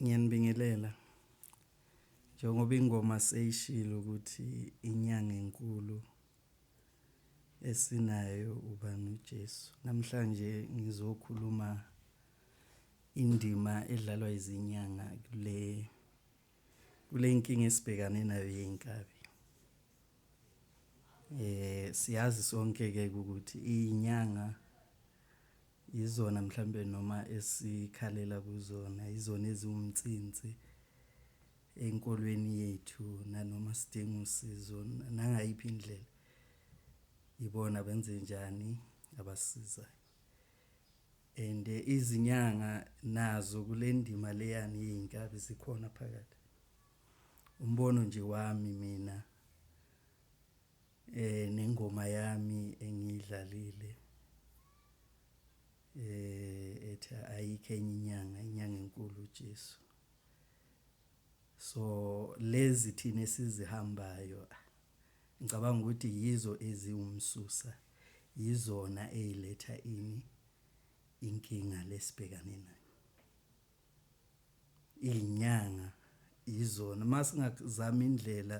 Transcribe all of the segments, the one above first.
ngiyanibingelela njengoba ingoma seyishilo ukuthi inyanga enkulu esinayo ubani uJesu namhlanje ngizokhuluma indima edlalwa izinyanga kule kule nkinga esibhekane nayo yey'nkabi eh siyazi sonke ke ukuthi inyanga izona mhlambe noma esikhalela kuzona izona eziwumtsinsi enkolweni yethu nanoma sidinga usizo nangayiphi indlela ibona benze njani abasizayo and eh, izinyanga nazo kule ndima leyani yey'nkabi zikhona phakathi umbono nje wami mina eh nengoma yami engiyidlalile eh ethi ayikho enye inyanga inyanga enkulu uJesu so lezi thina esizihambayo Ngicabanga ukuthi yizo eziwumsusa, yizona eyiletha ini inkinga lesibhekane nayo. Izinyanga yizona masingazama indlela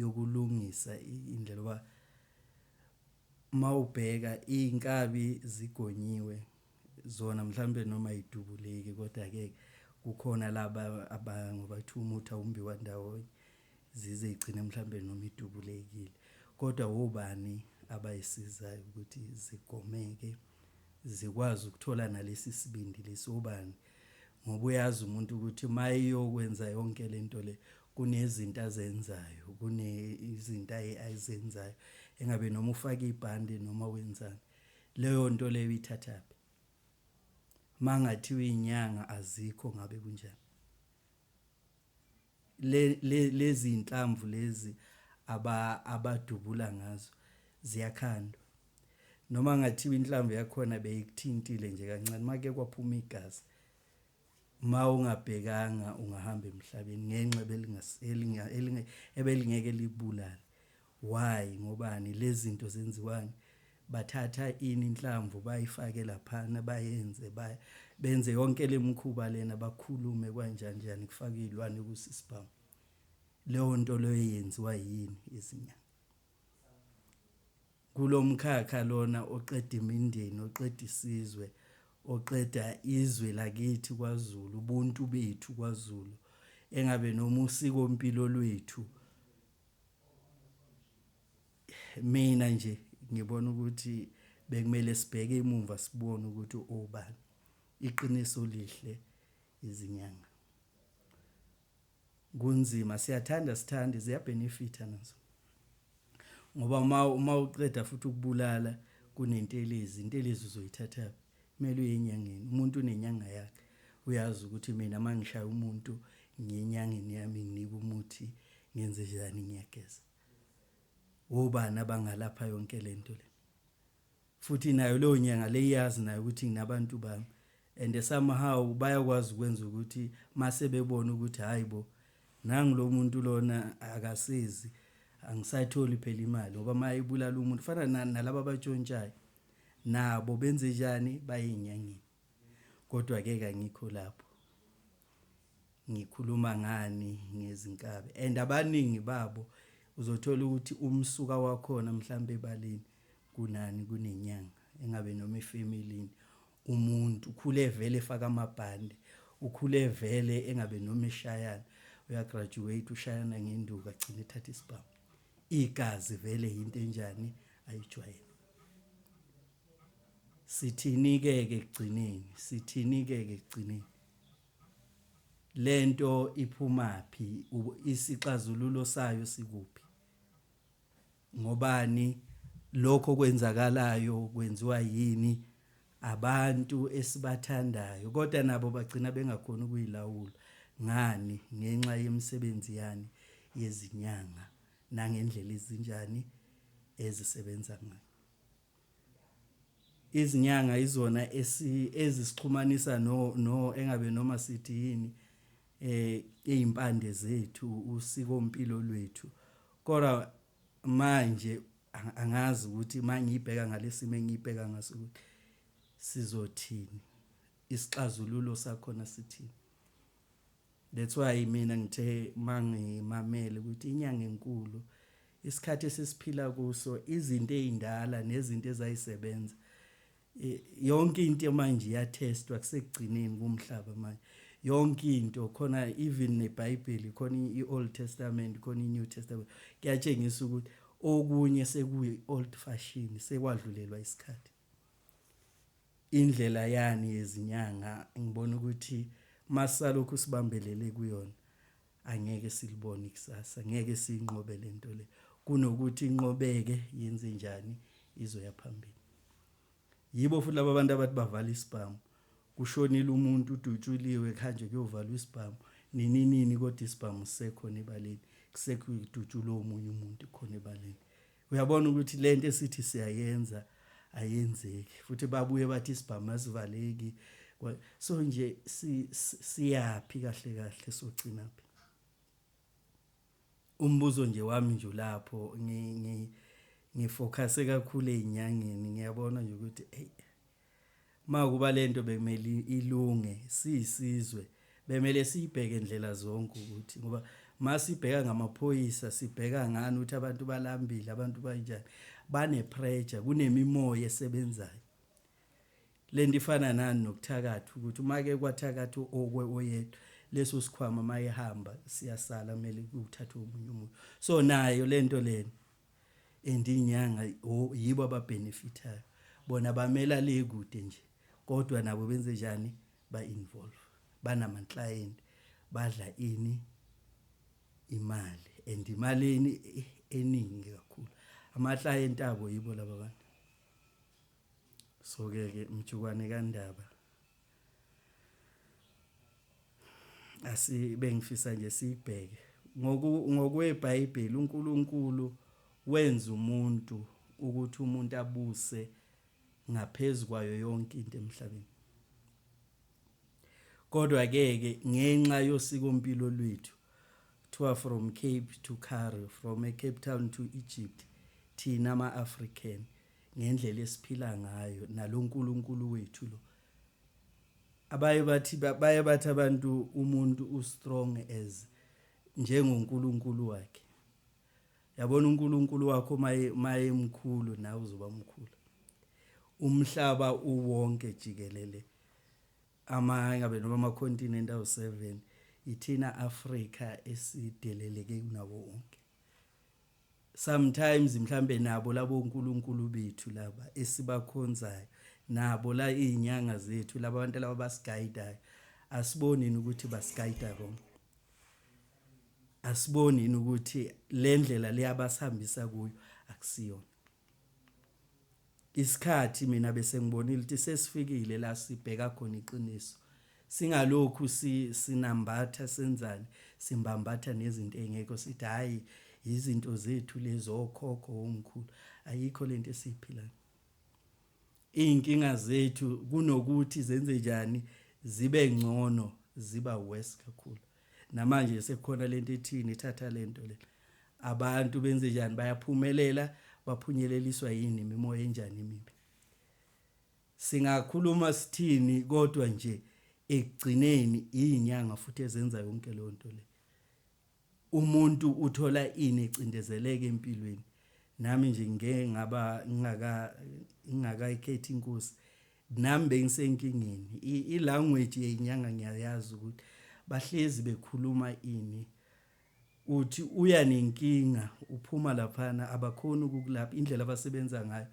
yokulungisa indlela oba mawubheka inkabi zigonyiwe zona mhlambe noma idubuleki kodwa ke kukhona laba abangoba kuthiwa umuthi awumbiwa ndawonye zize igcine mhlambe noma idubulekile kodwa wobani abayisizayo ukuthi zigomeke zikwazi ukuthola nalesi sibindi lesi obani ngoba uyazi umuntu ukuthi mayeyokwenza yonke lento le kunezinto azenzayo kune izinto ayizenzayo engabe noma ufaka ibhande noma wenzani leyo nto leyo ithathaphi mangathiwa inyanga azikho ngabe kunjani lezi inhlamvu lezi aba abadubula ngazo ziyakhandwa noma ngathiwa inhlamvu yakhona beyikuthintile nje kancane make kwaphuma igazi ma ungabhekanga ungahamba emhlabeni ngenxa ebelingase ebelingeke libulale Why ngobani lezinto zenziwani bathatha ini inhlamvu bayifake laphana bayenze ba benze yonke lemkhuba lena bakhulume kwanjani njani kufaka izilwane kusisibhamu leyo nto leyo yenziwa yini izinyanga kulomkhakha lona oqeda imindeni oqeda isizwe oqeda izwe lakithi kwaZulu ubuntu bethu kwaZulu engabe noma usiko impilo lwethu mina nje ngibona ukuthi bekumele sibheke imumva sibone ukuthi obani iqiniso lihle izinyanga kunzima siyathanda sithande ziyabenefitha nazo ngoba uma uma uqeda futhi ukubulala kunentelezi intelezi uzoyithatha Kumele uye enyangeni. Umuntu unenyanga yakhe. Uyazi ukuthi mina uma ngishaya umuntu ngiye enyangeni yami nginike umuthi ngenze njani ngiyageza. Wobani abangalapha yonke le nto le? Futhi nayo leyo nyanga le iyazi nayo ukuthi nginabantu bami. And somehow bayakwazi ukwenza ukuthi mase bebona ukuthi hayi bo nangu lo muntu lona akasizi angisatholi phela imali ngoba uma ibulala umuntu fana nalaba abatshontshayo nabo benze njani bayenyangeni kodwa ke kangikho lapho ngikhuluma ngani ngezinkabi and abaningi babo uzothola ukuthi umsuka wakhona mhlambe ebaleni kunani kunenyanga engabe noma efamilini umuntu ukhule vele efaka amabhande ukhule vele engabe noma eshayana uyagraduate ushayana ngenduku agcine ethatha isibhamu igazi vele yinto enjani ayijwayele sithinike ke ekugcineni sithinike ke ekugcineni lento iphumaphi isixazululo sayo sikuphi ngobani lokho kwenzakalayo kwenziwa yini abantu esibathandayo kodwa nabo bagcina bengakhona ukuyilawula ngani ngenxa yemisebenzi yani yezinyanga nangendlela ezinjani ezisebenza ngayo. Izinyanga izona ezisixhumanisa no no engabe noma sithi yini eh izimpande zethu usiko impilo lwethu kodwa manje angazi ukuthi mangiyibheka ngalesimo engiyibheka ngaso ukuthi sizothini isixazululo sakhona sithini That's why mina ngithe mangimamele ukuthi inyanga enkulu isikhathi esisiphila kuso izinto ezindala nezinto ezayisebenza yonke into manje iyatestwa kusekugcineni kumhlaba manje yonke into khona even neBhayibheli khona iOld Testament khona iNew Testament kuyatshengisa ukuthi okunye sekuyi old fashion sekwadlulelwa isikhathi indlela yani yezinyanga ngibona ukuthi masalokhu sibambelele kuyona angeke silibone ikusasa ngeke sinqobe lento le kunokuthi inqobeke yenze njani izoya phambili yibo futhi laba bantu abathi bavala isibhamu kushonile umuntu udutshuliwe khanje kuyovalwa isibhamu nini nini kodwa isibhamu sekho nebaleni kusekho idutshulwe omunye umuntu khona ebaleni uyabona ukuthi lento esithi siyayenza ayenzeki futhi babuye bathi isibhamu asivaleki so nje siyaphi kahle kahle sogcina phi umbuzo nje wami nje lapho ngifocuse kakhulu ezinyangeni ngiyabona nje ukuthi hey Makuba lento bekumele ilunge siyisizwe bemele siyibheke indlela zonke ukuthi ngoba masibheka ngamaphoyisa sibheka ngani ukuthi abantu balambile abantu banjani bane pressure kunemimoya esebenzayo lento ifana nani nokuthakatha ukuthi uma ke kwathakatha okwe oyedwa leso sikhwama mayehamba siyasala kumele kuthathwe umunye umuntu so nayo lento lena and inyanga yibo ababenefitayo bona bamela le kude nje kodwa nabo benze njani ba involve banama client badla ini imali and imali eni eningi kakhulu ama client abo yibo laba bantu so ke ke mjukwane kandaba asibe ngifisa nje siyibheke ngokweBhayibheli uNkulunkulu wenza umuntu ukuthi umuntu abuse ngaphezulu kwayo yonke into emhlabeni kodwa ke ke ngenxa yosiko mpilo lwethu kuthiwa from Cape to Cairo from a Cape Town to Egypt thina ama-African ngendlela esiphila ngayo naloNkulunkulu wethu lo abaye bathi baye bathi abantu umuntu ustrong as njengoNkulunkulu wakhe yabona uNkulunkulu wakho maye maye mkhulu nawe uzoba mkhulu umhlaba uwonke jikelele ama ngabe noma ama continent awu 7 ithina Africa esideleleke kunawo wonke sometimes mhlambe nabo labo uNkulunkulu bethu laba esibakhonzayo nabo la izinyanga zethu laba bantu laba basiguidayo asiboni ukuthi basiguide wrong asiboni ukuthi lendlela leyabasihambisa kuyo akusiyona Isikhathi mina bese ngibonile ukuthi sesifikile la sibheka khona iqiniso. Singalokhu si, sinambatha senzani, simbambatha nezinto ey'ngekho sithi hhayi yizinto zethu lezi okhokho omkhulu. Ayikho le nto esiyiphilayo. Iy'nkinga zethu kunokuthi zenze njani zibe ngcono ziba worse kakhulu. namanje sekukhona lento ethini ithatha lento le abantu benze njani bayaphumelela baphunyeleliswa yini imimoya enjani imibi singakhuluma sithini kodwa nje ekugcineni iyinyanga futhi ezenza yonke leyo nto le umuntu uthola ini ecindezeleke empilweni nami nje ngeke ngaba ngingaka ngingakayikhethi inkosi Nami bengisenkingeni. I language yenyanga ngiyayazi ukuthi bahlezi bekhuluma ini. Uthi uya nenkinga uphuma laphana abakhona ukukulapha indlela abasebenza ngayo.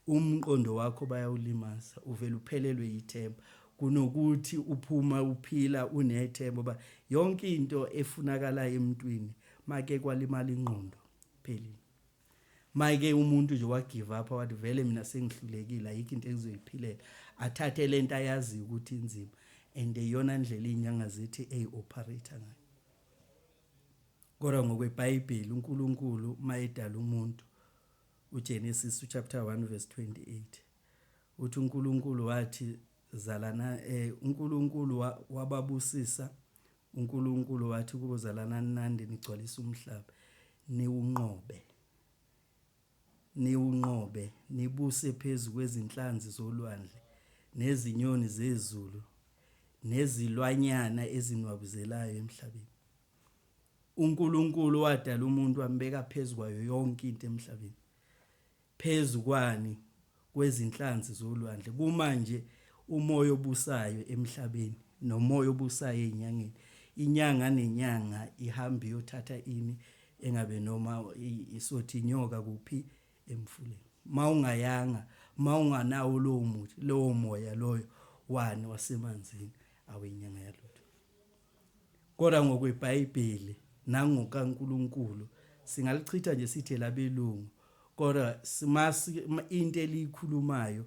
Umqondo wakho bayawulimaza uvela uphelelwe yithemba kunokuthi uphuma uphila unethemba ba yonke into efunakalayo emntwini make kwalimala ingqondo phelile. mayike umuntu nje wa give up wathi vele mina sengihlulekile ayikho into engizoyiphilela athathe lento ayazi ukuthi inzima and eyona ndlela inyanga zithi ey operator ngayo kodwa ngokweBhayibheli uNkulunkulu mayedala umuntu uGenesis chapter 1 verse 28 uthi uNkulunkulu wathi zalana eh uNkulunkulu wababusisa UNkulunkulu wathi kubo, Zalanani nande nigcwalisa umhlaba, niwunqobe, niwunqobe, nibuse phezu kwezinhlanzi zolwandle, nezinyoni zezulu, nezilwanyana ezinwabuzelayo emhlabeni. UNkulunkulu wadala umuntu wambeka phezu kwayo yonke into emhlabeni. Phezu kwani? Kwezinhlanzi zolwandle. Kumanje, umoya obusayo emhlabeni, nomoya obusayo ezinyangeni, inyanga nenyanga ihamba iyothatha ini, engabe noma isothi inyoka kuphi, emfuleni. Ma ungayanga, ma unganawo lowo muthi, lowo moya loyo, wani, wasemanzini, awenyanga yalutho. Kodwa ngokweBhayibheli nangokaNkulunkulu singalichitha nje sithi elabelungu kodwa simasi into eliyikhulumayo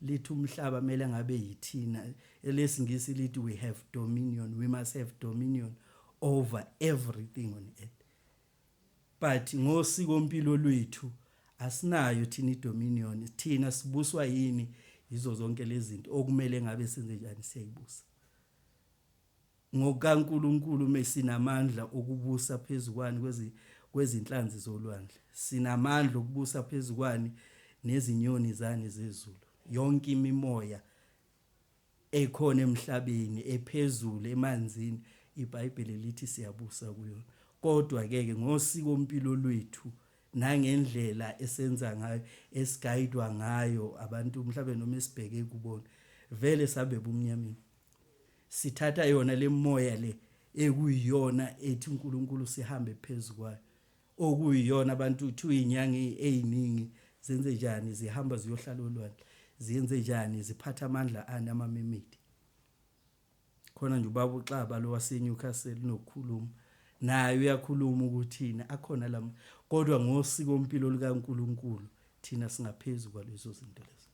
lithi umhlaba kumele ngabe yithina elesingisi lithi we have dominion we must have dominion over everything on earth but ngosiko mpilo lwethu asinayo thina idominion thina sibuswa yini yizo zonke lezi zinto okumele ngabe senze njani siyayibusa NgokaNkulunkulu me sinamandla okubusa phezu kwani kwezi, kwezinhlanzi zolwandle. Sinamandla okubusa phezu kwani nezinyoni zani zezulu. Yonke imimoya ekhona emhlabeni, ephezulu, emanzini, iBhayibheli lithi siyabusa kuyona. Kodwa ke ke ngosiko mpilo lwethu nangendlela esenza ngayo, esigayidwa ngayo abantu mhlawumbe noma esibheke kubona, vele sabe bumnyameni. sithatha yona lemoya le ekuyiyona ethi uNkulunkulu sihambe phezukwayo okuyiyona abantu uthi uyinyanga eziningi zenze njani zihamba ziyohlala olwandle ziyenze njani ziphatha amandla ani amamemedi khona nje ubaba uxaba lo waseNewcastle nokukhuluma naye uyakhuluma ukuthina akhona lama kodwa ngosiko mpilo likaNkuluNkulu thina singaphezulu kwalezo zinto lezo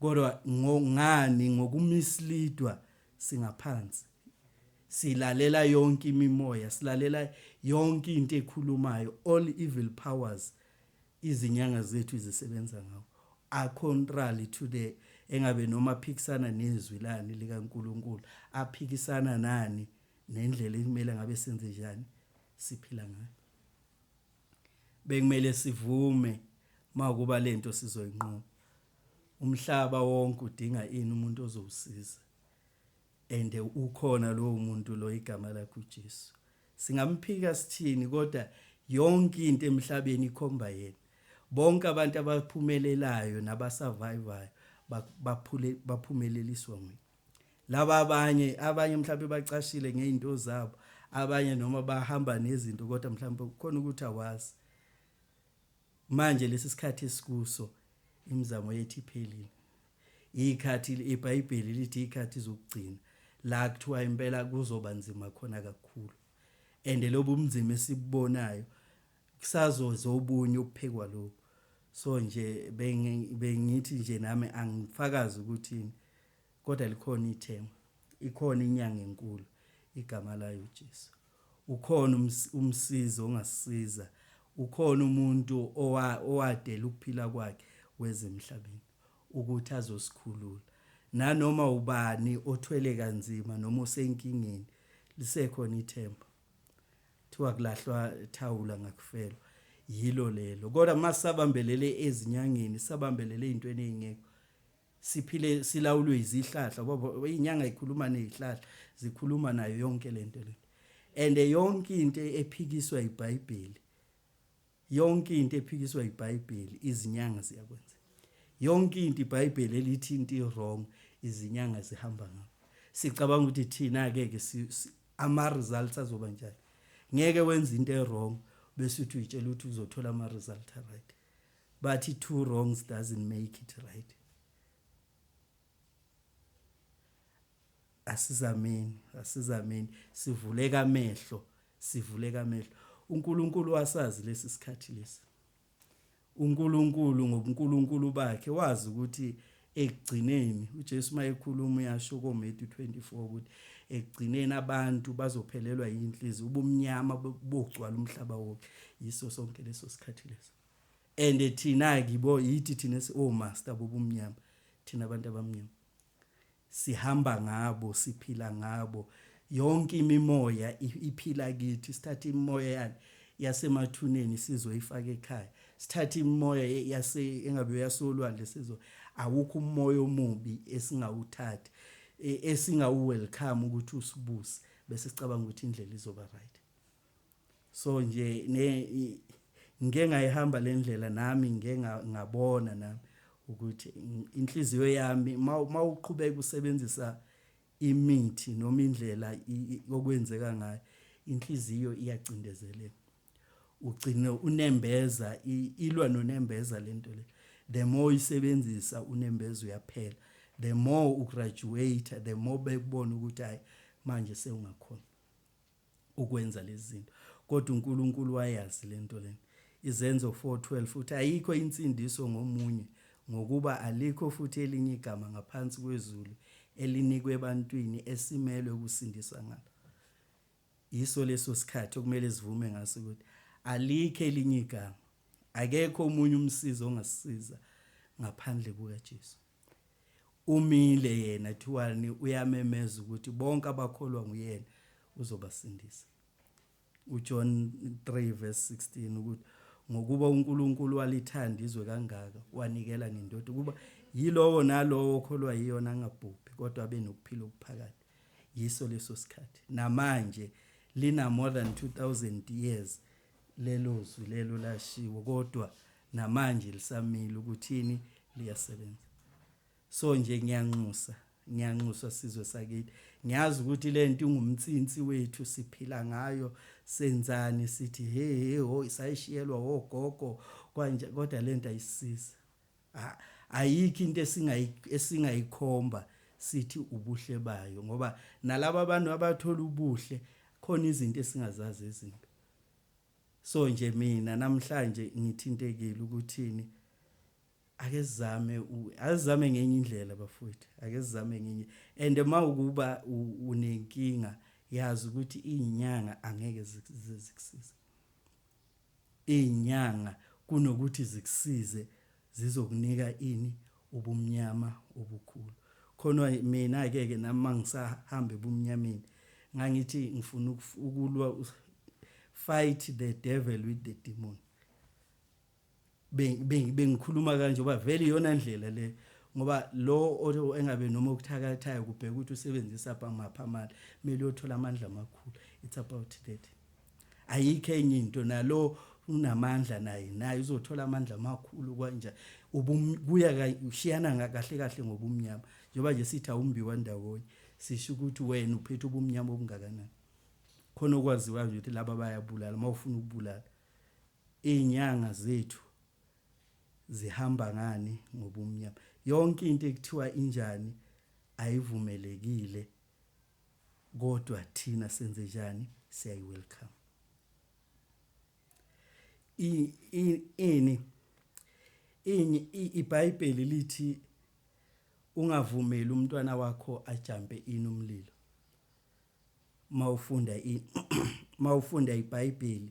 Kodwa ngo ngani ngoku misleadwa singaphansi. Silalela yonke imimoya, silalela yonke into ekhulumayo, all evil powers izinyanga zethu izisebenza ngawo. A contrary to the engabe noma aphikisana nezwi lani lika Nkulunkulu, aphikisana nani nendlela ekumele ngabe senze njani siphila ngayo. Bekumele sivume makuba lento sizoyinqoba. Umhlaba wonke udinga ini umuntu ozowusiza and ukhona lowo muntu lo igama lakhe uJesu. Singamphika sithini kodwa yonke into emhlabeni ikhomba yena. Bonke abantu abaphumelelayo nabasurvivayo baphule baphumeleliswa nguye. Laba abanye abanye mhlawumbe bacashile ngezinto zabo, abanye noma bahamba nezinto kodwa mhlawumbe kukhona ukuthi awazi. Manje lesi sikhathi esikuso imizamo yethu iphelile. Ikhathi iBhayibheli lithi ikhathi zokugcina la kuthiwa impela kuzoba nzima khona kakhulu. And lobu umnzima esibubonayo kusazoze obunye ubuphekwa lokhu. So nje bengithi nje nami angifakazi ukuthi Kodwa likhona ithemba. Ikhona inyanga enkulu. Igama layo uJesu. Ukhona ums, umsizi ongasisiza. Ukhona umuntu owa, owadela ukuphila kwakhe weza emhlabeni ukuthi azosikhulula. Nanoma ubani othwele kanzima noma osenkingeni, lisekhona ithemba. Thiwa kulahlwa thawula ngakufelwa. Yilo lelo. Kodwa uma sisabambelele ezinyangeni, sabambelele ey'ntweni ey'ngekho, siphile silawulwe izihlahla baba inyanga ikhuluma nezihlahla zikhuluma nayo yonke lento le and yonke into ephikiswa iBhayibheli yonke into ephikiswa iBhayibheli izinyanga ziyakwenza yonke into iBhayibheli elithi into wrong izinyanga zihamba ngakho sicabanga ukuthi thina ke ke ama results azoba njani ngeke wenza into ewrong bese uthi uyitshela ukuthi uzothola ama results right bathi two wrongs doesn't make it right asizameni asizameni sivuleka amehlo sivuleka amehlo uNkulunkulu wasazi lesi sikhathi lesi uNkulunkulu ngobuNkulunkulu bakhe wazi ukuthi Ekugcineni, uJesu uma ekhuluma uyasho koMetu 24 ukuthi ekugcineni abantu bazophelelwa yinhlizi ubumnyama bogcwala umhlaba wonke yiso sonke leso sikhathi leso and thina kibo yithi thina si oh master bobumnyama thina abantu abamnyama sihamba ngabo siphila ngabo Yonke imimoya iphila kithi sithatha imimoya yani yasemathuneni sizwe ifake ekhaya sithatha imimoya yase engabe yasolwandle sizwe awukho umoya omubi esingawuthatha e, esingawu welcome ukuthi usibuse bese sicabanga ukuthi indlela izoba right so nje ne ngike ngayihamba le ndlela nami ngike ngabona nami ukuthi inhliziyo yami mawuqhubeka usebenzisa imithi noma indlela okwenzeka ngayo inhliziyo iyacindezeleka ugcine unembeza ilwa nonembeza lento le the more uyisebenzisa unembeza uyaphela the more ugraduate the more bekubona ukuthi hayi manje sewungakhona ukwenza lezi zinto kodwa uNkulunkulu wayazi le nto lena. Izenzo 4:12 futhi ayikho insindiso ngomunye ngokuba alikho futhi elinye igama ngaphansi kwezulu elinikwe ebantwini esimelwe ukusindiswa ngalo. Yiso leso sikhathi okumele sivume ngaso ukuthi alikho elinye igama. Akekho omunye umsizi ongasisiza ngaphandle kukaJesu. Umile yena kuthiwani uyamemeza ukuthi bonke abakholwa nguyena uzobasindisa. UJohn 3 verse 16 ukuthi ngokuba uNkulunkulu walithanda izwe kangaka wanikela ngendoda ukuba yilowo nalowo okholwa yiyona angabhubhi kodwa abe nokuphila okuphakade yiso leso sikhathi namanje lina more than 2000 years Lelo zwi lelo lashiwo kodwa namanje lisamile ukuthini liyasebenza. So nje ngiyanxusa ngiyanxusa sizwe sakithi ngiyazi ukuthi lento ingumtsinsi wethu siphila ngayo senzani sithi hey hey ho isayishiyelwa wogogo kwanje kodwa lento ayisiza ayikho into esingayikhomba sithi ubuhle bayo ngoba nalabo abantu abathola ubuhle khona izinto esingazazi ezimbi so nje mina namhlanje ngithintekile ukuthini ake sizame azizame ngenye indlela bafowethu ake sizame ngenye and uma ukuba unenkinga yazi ukuthi izinyanga angeke zikusize izinyanga kunokuthi zikusize zizokunika ini ubumnyama obukhulu khona mina ke ke nami mangisahamba ebumnyameni ngangithi ngifuna ukulwa fight the devil with the demon bengikhuluma kanje uba vele iyona ndlela le ngoba lo engabe noma okuthakathayo kubheka ukuthi usebenzisa phamapha amandla kumele uyothola amandla amakhulu it's about that Ayikho enye into nalo unamandla naye naye uzothola amandla amakhulu kwanja ubuya ushiyana kahle kahle ngobumnyama njengoba nje sithi awumbiwa ndawonye sisho ukuthi wena uphethe ubumnyama obungakanani khona okwaziwayo nje ukuthi laba bayabulala uma ufuna ukubulala iy'nyanga zethu zihamba ngani ngobumnyama yonke into ekuthiwa injani ayivumelekile Kodwa thina senzenjani siyayi welcome. Ini ini iBhayibheli lithi ungavumeli umntwana wakho ajampe ini umlilo. Mawufunda i mawufunda iBhayibheli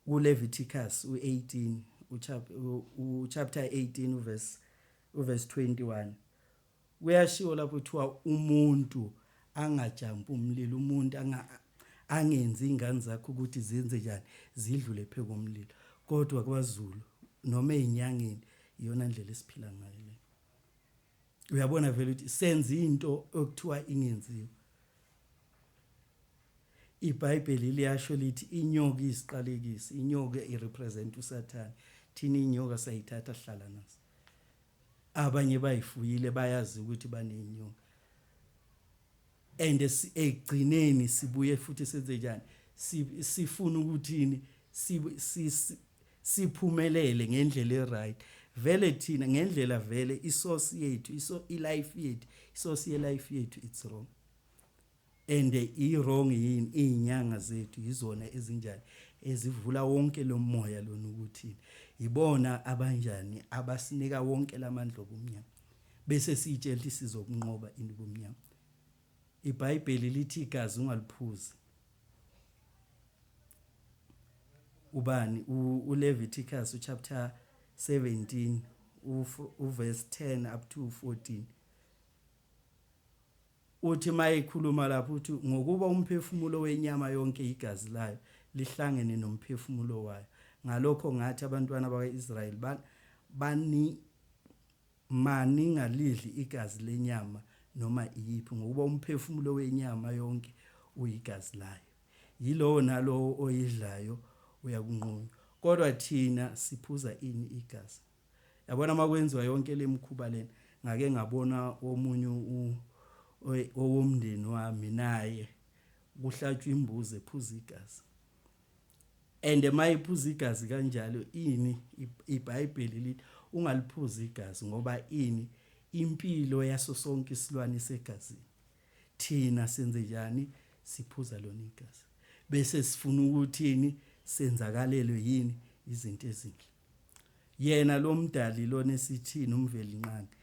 KuLevitikus u-18, uchapter 18 uverse uverse 21 kuyashiwo lapho kuthiwa umuntu angajampi umlilo umuntu angenzi ingane zakho ukuthi zenze njani zidlule pheko umlilo kodwa kwaZulu noma ezinyangeni iyona ndlela esiphila ngayo le uyabona vele ukuthi senza into okuthiwa ingenziwa iBhayibheli liyasho lithi inyoka isiqalekisi inyoka irepresent uSathane thina inyoka sayithatha hlala naso abanye bayifuyile bayazi ukuthi banenyoka and ekugcineni sibuye futhi senze njani sifuna ukuthini siphumelele ngendlela eright vele thina ngendlela vele isource yethu iso ilife yethu isource yelife yethu it's wrong and i wrong yini izinyanga zethu yizona ezinjani ezivula wonke lo moya lona ukuthi yibona abanjani abasinika wonke lamandla obumnyama bese siyitshela ukuthi sizokunqoba ini ubumnyama ibhayibheli lithi igazi ungaliphuzi ubani uLeviticus uchapter 17 uverse 10 up to 14 uthi mayikhuluma lapho uthi ngokuba umphefumulo wenyama yonke igazi layo lihlangene nomphefumulo wayo ngalokho ngathi abantwana bakwaIsrayeli bani Maningalidli igazi lenyama noma iyiphi, ngokuba umphefumulo wenyama yonke uyigazi layo. Yilowo nalowo oyidlayo uyakunqunywa. Kodwa thina siphuza ini igazi? Yabona uma kwenziwa yonke le mikhuba lena, ngake ngabona omunye owomndeni wami naye kuhlatshwa imbuzi ephuza igazi. and mayiphuza igazi kanjalo ini ibhayibheli lithi ungaliphuza igazi ngoba ini impilo yaso sonke isilwane isegazini thina senze njani siphuza lona igazi bese sifuna ukuthini senzakalelwe yini izinto ezinhle Yena loMdali lona esithini uMvelinqangi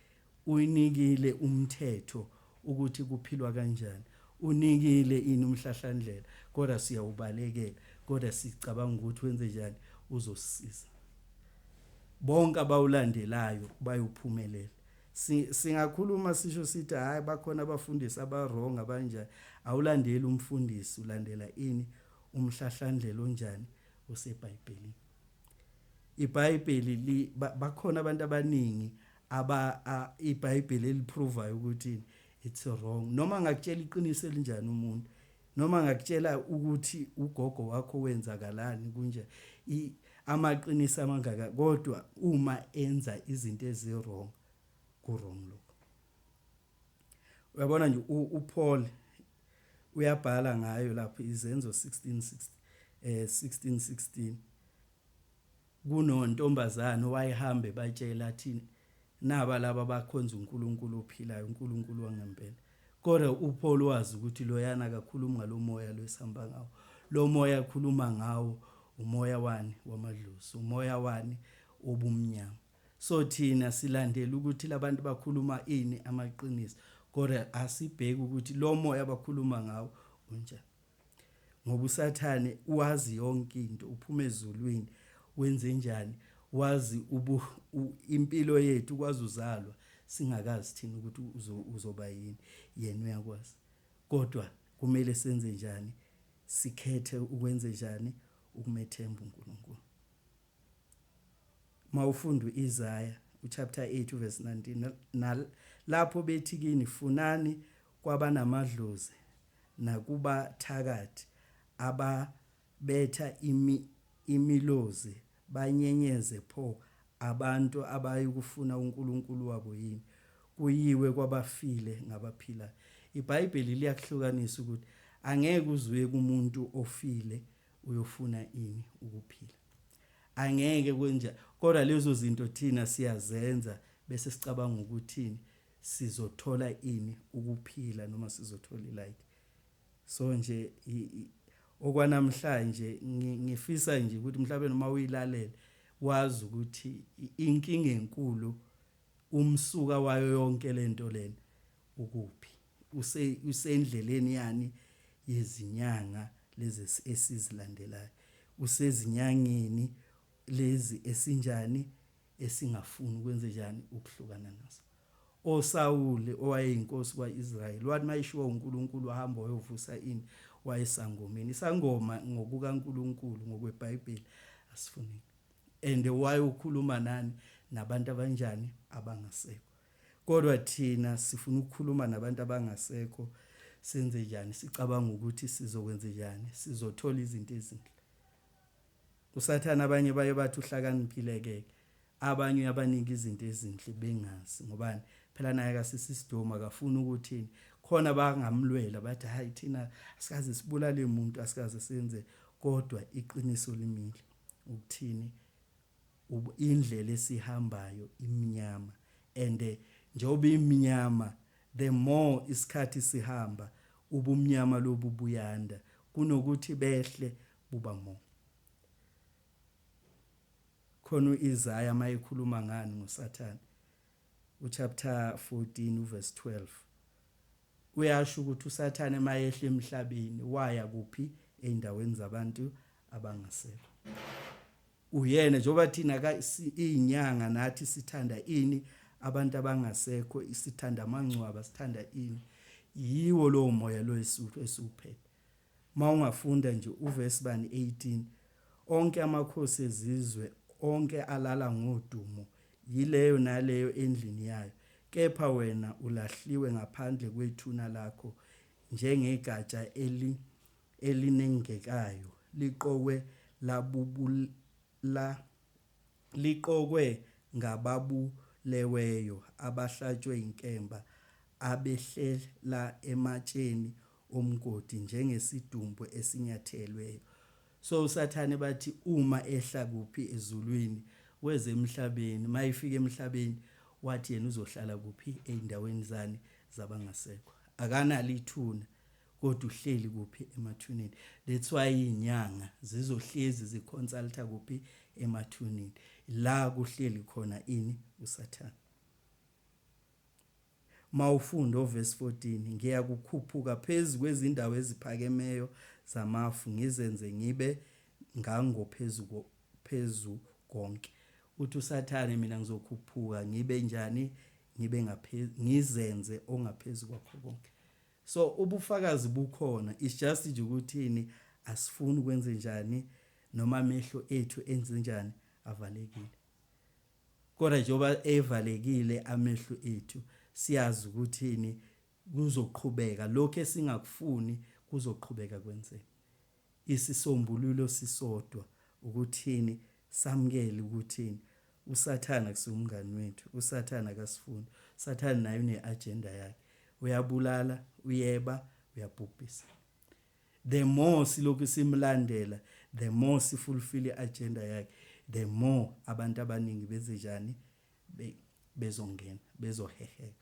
uynikile umthetho ukuthi kuphilwa kanjani unikile ini umhlahlandlela kodwa siyawubalekela kodwa sicabanga ukuthi wenzenjani uzosisiza bonke abawulandelayo bayophumelela singakhuluma sisho sithi hayi bakhona abafundisi abarong abanjani awulandeli umfundisi ulandela ini umhlahlandlela onjani usebhayibhelini iBhayibheli li bakhona abantu abaningi aba iBhayibheli eliprovayo ukuthi it's wrong noma ngakutshela iqiniso elinjani umuntu noma ngakutshela ukuthi ugogo wakho wenzakalani kunje amaqiniso amangaka kodwa uma enza izinto eziwrong kurong lokho Uyabona nje uPaul uyabhala ngayo lapho izenzo 16 eh 16 kunontombazana owayehambe batshela athi naba laba bakhonza uNkulunkulu ophilayo uNkulunkulu wangempela kodwa uPaul wazi ukuthi loyana akakhulumi ngalomoya lwesihamba ngawo lo moya akhuluma ngawo umoya wani wamadlozi umoya wani obumnyama So thina silandela ukuthi labantu bakhuluma ini amaqiniso kodwa asibheki ukuthi lo moya abakhuluma ngawo unjani. Ngoba usathane wazi yonke into uphuma ezulwini wenze njani wazi ubu impilo yethu kwazi uzalwa singakazi thina ukuthi uzoba yini yena uyakwazi kodwa kumele senze njani sikhethe ukwenze njani ukumethemba uNkulunkulu Uma ufunda u-Isaya, uchapter 8, uverse 19, nalapho bethi kini, Funani kwabanamadlozi nakubathakathi ababetha imi, imilozi, banyenyeze, pho abantu abayukufuna uNkulunkulu wabo yini? Kuyiwe kwabafile ngabaphilayo. IBhayibheli liyakuhlukanisa ukuthi angeke uzuye kumuntu ofile uyofuna ini ukuphila angeke kwenja kodwa lezo zinto thina siyazenza bese sicabanga ukuthini sizothola ini ukuphila noma sizothola ilike so nje okwanamhlanje ngifisa nje ukuthi mhlawumbe noma uyilalela wazi ukuthi inkinga enkulu umsuka wayo yonke lento lena ukuphi usendleleni yani yezinyanga lezi esizilandelayo usezinyangeni lezi esinjani esingafuni ukwenze njani ukuhlukana naso osawule owayeyinkosi kwaIsrayeli wathi mayishiwo uNkulunkulu wahamba wayovusa ini wayesangomeni isangoma ngokukaNkulunkulu ngokweBhayibheli asifuni and wayokhuluma nani nabantu abanjani abangasekho Kodwa thina sifuna ukukhuluma nabantu abangasekho senze njani sicabanga ukuthi sizokwenze njani sizothola izinto ezinhle usathane abanye baye bathi uhlakaniphile ke abanye uyabanika izinto ezinhle bengazi ngobani phela naye akasisisidoma akafuni ukuthi khona bangamlwela bathi hayi thina asikaze sibulale umuntu asikaze senze kodwa iqiniso limile ukuthini Indlela esihambayo imnyama and njengoba imnyama the more isikhathi sihamba ubumnyama lobu buyanda kunokuthi behle buba more. Khona uIsaya mayekhuluma ngani ngoSathane uchapter 14 uverse 12 uyasho ukuthi uSathane mayehla emhlabeni waya kuphi eindaweni zabantu abangasekho. Uyena njengoba thina ka si- iyinyanga nathi sithanda ini abantu abangasekho sithanda amangcwaba sithanda ini yiwo lowo moya lo esu- esiwuphethe uma ungafunda nje uvesi bani 18 onke amakhosi ezizwe onke alala ngodumo yileyo naleyo endlini yayo kepha wena ulahliwe ngaphandle kwethuna lakho njengegatsha eli elinengekayo liqokwe labubula liqokwe ngababuleweyo abahlatshwe inkemba abehlela ematsheni omgodi njengesidumbu esinyathelweyo so usathane bathi uma ehla kuphi ezulwini weza emhlabeni mayefika emhlabeni wathi yena uzohlala kuphi ezindaweni zani zabangasekho akanalo ithuna Kodwa uhleli kuphi emathuneni. That's why izinyanga zizohlezi zi consulta kuphi emathuneni. La kuhleli khona ini usathane. Mawufunda overse 14 ngiya kukhuphuka phezu kwezindawo eziphakemeyo zamafu ngizenze ngibe ngangophezu phezu konke. Uthi usathane mina ngizokhuphuka ngibe njani ngibe ngaphezulu ngizenze ongaphezulu kwakho konke. So ubufakazi bukhona it's just nje ukuthini asifuni ukwenze njani noma amehlo ethu enze njani avalekile kodwa njengoba evalekile amehlo ethu siyazi ukuthini kuzoqhubeka lokho esingakufuni kuzoqhubeka kwenzeka Isisombululo sisodwa ukuthini samukele ukuthini usathane akusiwo umngani wethu usathane akasifuni usathane naye une agenda yakhe uyabulala uyeba uyabhubhisa the more silokhu simlandela the more sifulfill iagenda yakhe the more abantu abaningi bezejani be, bezongena bezoheheka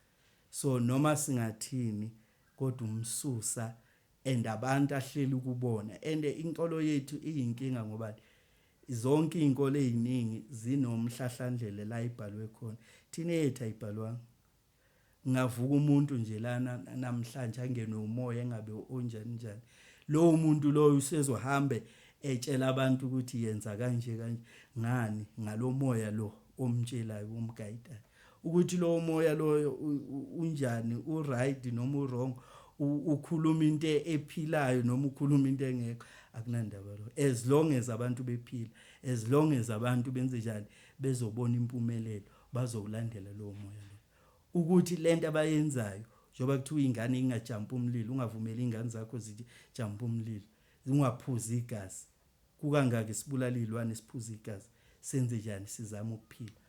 so noma singathini kodwa umsusa and abantu ahleli kubona and inkolo yethu iyinkinga ngoba zonke izinkolo eziningi zinomhlahlandlela la ibhalwe khona thina yethu ayibhalwanga ngavuka umuntu nje lana namhlanje angenwe umoya engabe onjani njani lowo muntu loyo usezohambe etshela abantu ukuthi yenza kanje kanje ngani ngalomoya lo omtshelayo omgayidayo ukuthi lowo moya loyo unjani uright noma urong ukhuluma into ephilayo noma ukhuluma into engekho akunandaba lo as long as abantu bephila as long as abantu benze njani bezobona impumelelo bazokulandela lowo moya lo ukuthi lento abayenzayo njengoba kuthiwa ingane ingajampa umlilo ungavumeli ingane zakho zijampa umlilo ungaphuzi igazi kukangaki sibulala izilwane siphuza igazi senze njani sizama ukuphila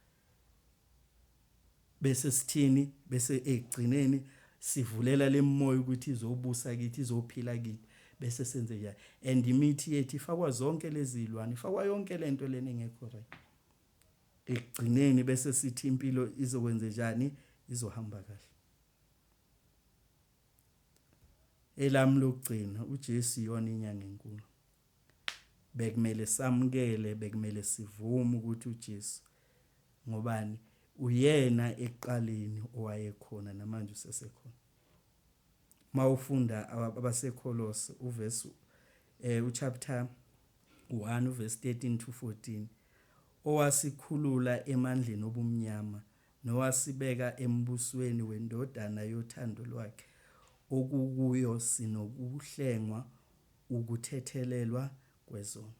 bese sithini bese ekugcineni sivulela lemoya ukuthi izobusa kithi izophila kithi bese senze njalo and imithi yethu ifakwa zonke lezi zilwane ifakwa yonke lento lena engekho right ekugcineni bese sithi impilo izokwenze njani izohamba kahle elami lokugcina uJesu iyona inyanga enkulu bekumele samukele bekumele sivume ukuthi uJesu ngobani uyena ekuqaleni owayekhona namanje usesekhona mawufunda abaseKholose uverse eh uchapter 1 uverse 13 to 14 owasikhulula emandleni obumnyama nowasibeka embusweni wendodana yothando lwakhe okukuyo sinokuhlengwa Ukuthethelelwa kwezono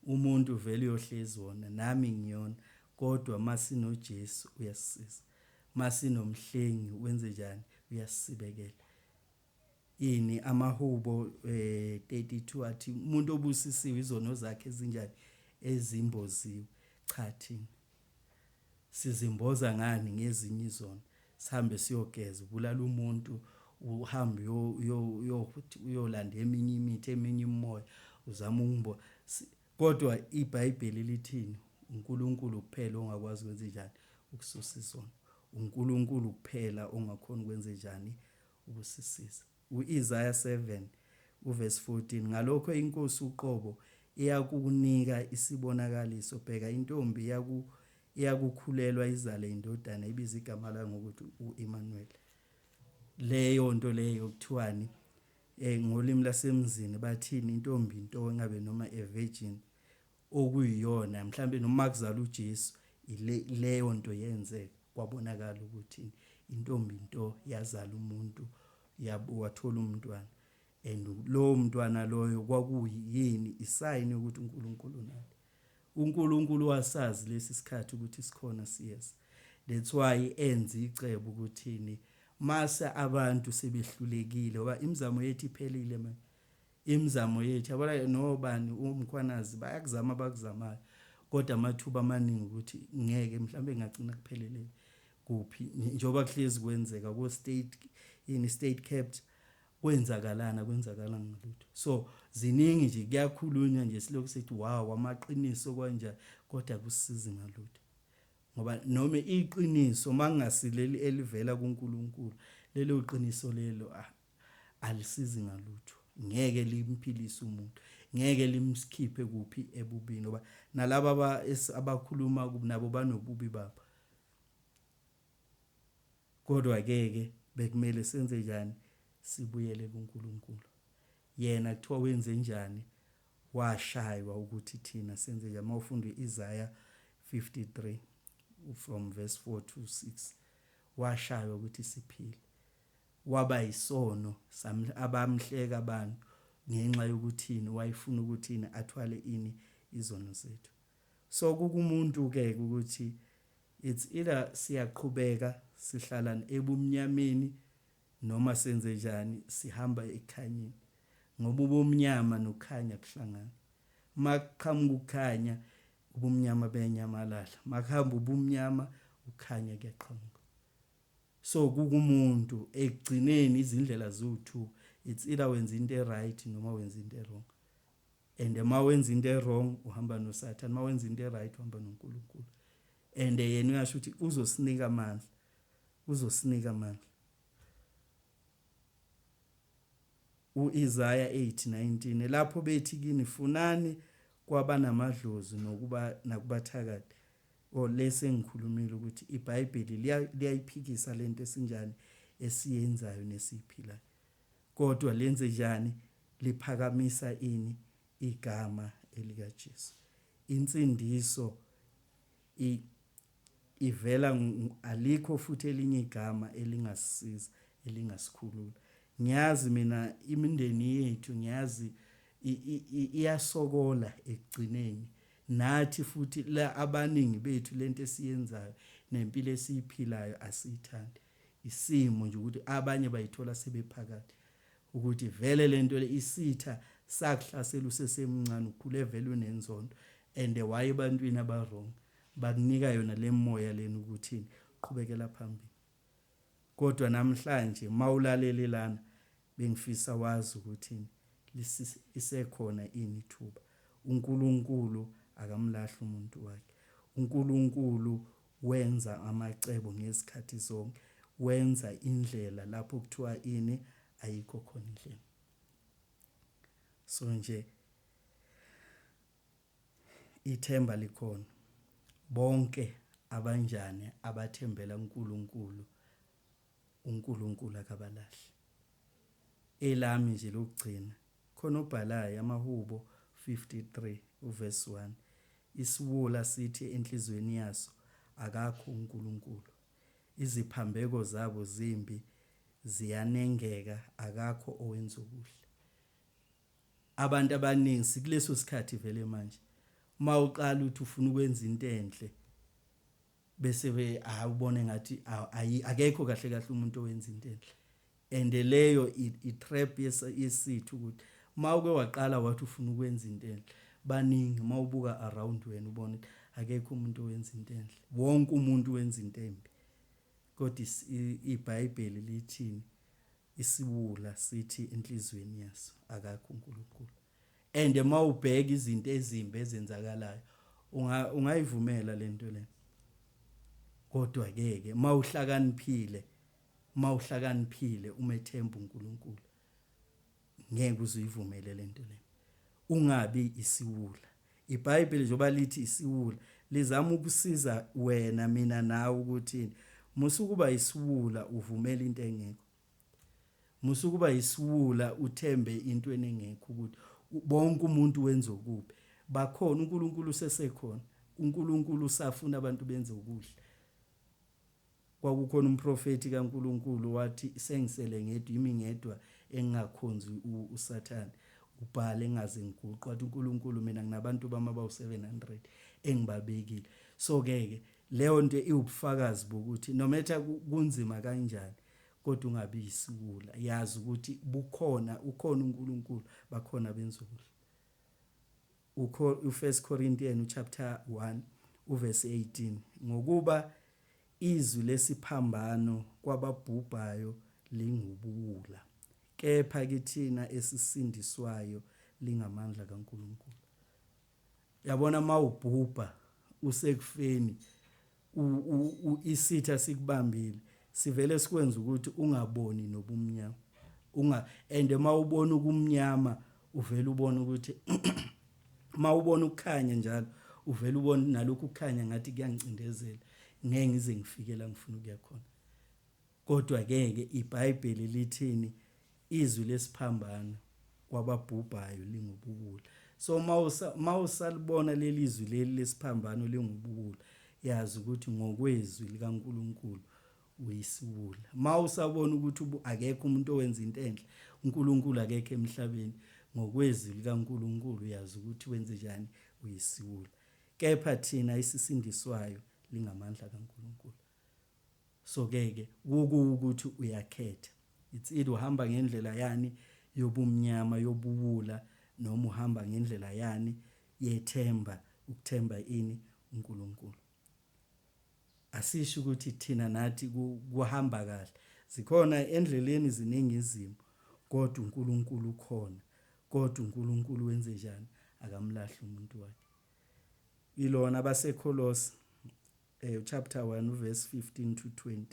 umuntu vele uyohlezi wona nami ngiyon kodwa masino Jesu uyasisiza masino mhlengi wenzenjani uyasisibekela ini amahubo eh, 32 athi umuntu obusisiwe izono zakhe ezinjani ezimboziwe cha thina sizimboza ngani ngezinye izono sihambe siyogeza ubulala umuntu uhambe uyolanda eminye imithi eminye imimoya uzama ukumbo kodwa ibhayibheli lithini unkulunkulu kuphela ongakwazi ukwenza njani ukususa izono unkulunkulu kuphela ongakhona ukwenza njani ukusisiza U-Isaya 7 uvesi 14, Ngalokho iNkosi uqobo iyakukunika isibonakaliso, bheka, intombi iyaku, iyakukhulelwa izale indodana, ibize igama layo ngokuthi u-Imanuweli. Leyo nto leyo kuthiwani? Eh, ngolimi lasemzini bathini intombi into engabe noma a virgin okuyiyona mhlampe noma kuzala uJesu ile leyo nto yenzeka kwabonakala ukuthi intombi into yazala umuntu yabo wathola umntwana and lowo mntwana loyo kwakuyini isayini ukuthi uNkulunkulu unale uNkulunkulu wasazi lesi sikhathi ukuthi sikhona siyeza that's why enza icebo ukuthini mase abantu sebehlulekile ngoba imizamo yethu iphelile manje Imizamo yethu yabona nobani uMkhwanazi bayakuzama abakuzamayo kodwa amathuba amaningi ukuthi ngeke mhlawumbe ngagcina kupheleleni kuphi njengoba kuhlezi kwenzeka ko state yini state capped kwenzakalana kwenzakala ngalutho so ziningi nje kuyakhulunywa nje silokhu sithi wow amaqiniso kwanja kodwa kusizi ngalutho ngoba noma iqiniso mangasileli elivela kuNkulunkulu lelo qiniso lelo ah, alisizi ngalutho ngeke limphilise umuntu ngeke limsikhiphe kuphi ebubini ngoba nalaba aba abakhuluma nabo banobubi babo kodwa ke ke bekumele senze njani sibuyele kuNkulunkulu yena kuthiwa wenze njani washaywa ukuthi thina senze njani mawufunda iIsaiah 53 from verse 4 to 6 washaywa ukuthi siphile Waba isono sam abamhleka abantu ngenxa yokuthini wayefuna ukuthini athwale ini izono zethu so kukumuntu ke ukuthi it's either siyaqhubeka sihlalan ebumnyameni noma senze njani sihamba ekukhanyeni ngoba ubumnyama nokukhanya kuhlangana makuqhamuka ukukhanya ubumnyama benyamalala makuhamba ubumnyama ukukhanya kuyaqhamuka So kukumuntu ekugcineni izindlela ziwu two it's either wenza into eright noma wenza into erong and uma wenza into erong uhamba nosathane uma wenza into eright uhamba nonkulunkulu and yena uyasho ukuthi uzosinika amandla uzosinika amandla U-Isaya 8:19, Lapho bethi kini, Funani kwabanamadlozi nokuba nakubathakathi. O, le sengikhulumile ukuthi iBhayibheli liyayiphikisa le nto esinjani esiyenzayo nesiyiphilayo. Kodwa lenze njani? Liphakamisa ini? Igama elikaJesu. Insindiso I, ivela alikho futhi elinye igama elingasisiza elingasikhulula ngiyazi mina imindeni yethu ngiyazi iyasokola ekugcineni nathi futhi la abaningi bethu lento esiyenzayo nempilo esiyiphilayo asiyithandi isimo nje ukuthi abanye bayithola sebephakathi ukuthi vele lento le isitha sakuhlasela usesemncane ukhule vele unenzondo and why ebantwini abawrong bakunika yona lemoya lena ukuthi qhubekela phambili kodwa namhlanje mawulalele lana bengifisa wazi ukuthi isekhona ini ithuba uNkulunkulu akamlahli umuntu wakhe uNkulunkulu Wenza amacebo ngezikhathi zonke. Wenza indlela lapho kuthiwa ini? Ayikho khona indlela. So nje ithemba likhona. Bonke abanjani abathembela kuNkulunkulu UNkulunkulu akabalahli. Elami nje lokugcina, khona obhalayo, amaHubo 53 uvesi 1, Isiwula sithi enhliziyweni yaso, Akakho uNkulunkulu. Iziphambeko zabo zimbi, ziyanengeka, akakho owenza okuhle. Abantu abaningi sikuleso sikhathi vele manje. Uma uqala uthi ufuna ukwenza into enhle, bese we hayi ubone ngathi akekho kahle kahle umuntu owenza into enhle and leyo i trap yesithu ukuthi mawuke waqala wathi ufuna ukwenza into enhle baningi mawubuka around wena ubona akekho umuntu owenza into enhle wonke umuntu wenza into embi kodwa iBhayibheli lithini isiwula sithi enhlizweni yaso akakho uNkulunkulu And uma ubheka izinto ezimbi ezenzakalayo unga ungayivumela lento lena. Kodwa ke ke mawuhlakaniphile mawuhlakaniphile umethemba uNkulunkulu ngeke uzuyivumele lento lena. Ungabi isiwula. IBhayibheli njengoba lithi isiwula lizama ukusiza wena mina nawe ukuthi musukuba isiwula uvumela into engekho. Musa ukuba yisiwula uthembe intweni engekho ukuthi bonke umuntu wenza okubi. Bakhona uNkulunkulu usesekhona. UNkulunkulu usafuna abantu benze okuhle. Kwakukhona umprofeti kaNkulunkulu wathi sengisele ngedwa imi ngedwa engingakhonzi uSathane. Ubhale ngaze ngiguqwa wathi uNkulunkulu mina nginabantu bami abawu-700 engibabekile. So ke ke leyo nto iwubufakazi bokuthi no matter kunzima kanjani Kodwa ungabi yisiwula. Yazi ukuthi bukhona, ukhona uNkulunkulu, bakhona abenza okuhle. Ukho uFirst Corinthians chapter 1 uverse 18 ngokuba izwi lesiphambano kwababhubhayo lingubuwula kepha kithina esisindiswayo lingamandla kaNkulunkulu. yabona mawubhubha usekufeni isitha sikubambile sivele sikwenza ukuthi ungaboni nobumnyama unga and mawubona ukumnyama uvela ubona ukuthi mawubona ukukhanya njalo uvela ubona nalokhu kukhanya ngathi kuyangicindezela ngeke ngize ngifike la ngifuna ukuya khona Kodwa-ke-ke iBhayibheli lithini? Izwi lesiphambano kwababhubhayo lingubuwula. So uma usalibona leli zwi leli lesiphambano lingubuwula, yazi ukuthi ngokwezwi likaNkulunkulu uyisiwula. Uma usabona ukuthi akekho umuntu owenza into enhle, uNkulunkulu akekho emhlabeni, ngokwezwi likaNkulunkulu uyazi ukuthi wenze njani, uyisiwula. Kepha thina esisindiswayo lingamandla kaNkulunkulu. so ke ke kukuwukuthi uyakhetha it's either uhamba ngendlela yani yobumnyama yobuwula noma uhamba ngendlela yani yethemba ukuthemba ini uNkulunkulu asisho ukuthi thina nathi kuhamba kahle zikhona endleleni ziningi izimo kodwa uNkulunkulu ukhona kodwa uNkulunkulu wenze njani akamlahli umuntu wakhe ilona abasekholosi Eyo chapter 1 verse 15 to 20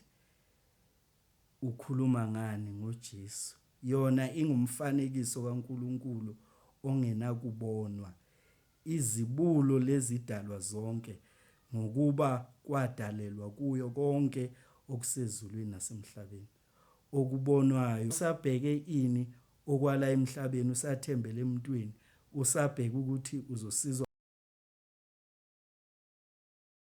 ukhuluma ngani ngoJesu yona ingumfanekiso kaNkulunkulu ongenakubonwa izibulo lezidalwa zonke ngokuba kwadalelwa kuyo konke okusezulwini nasemhlabeni okubonwayo usabheke ini okwala emhlabeni usathembele emntwini usabheke ukuthi uzosizwa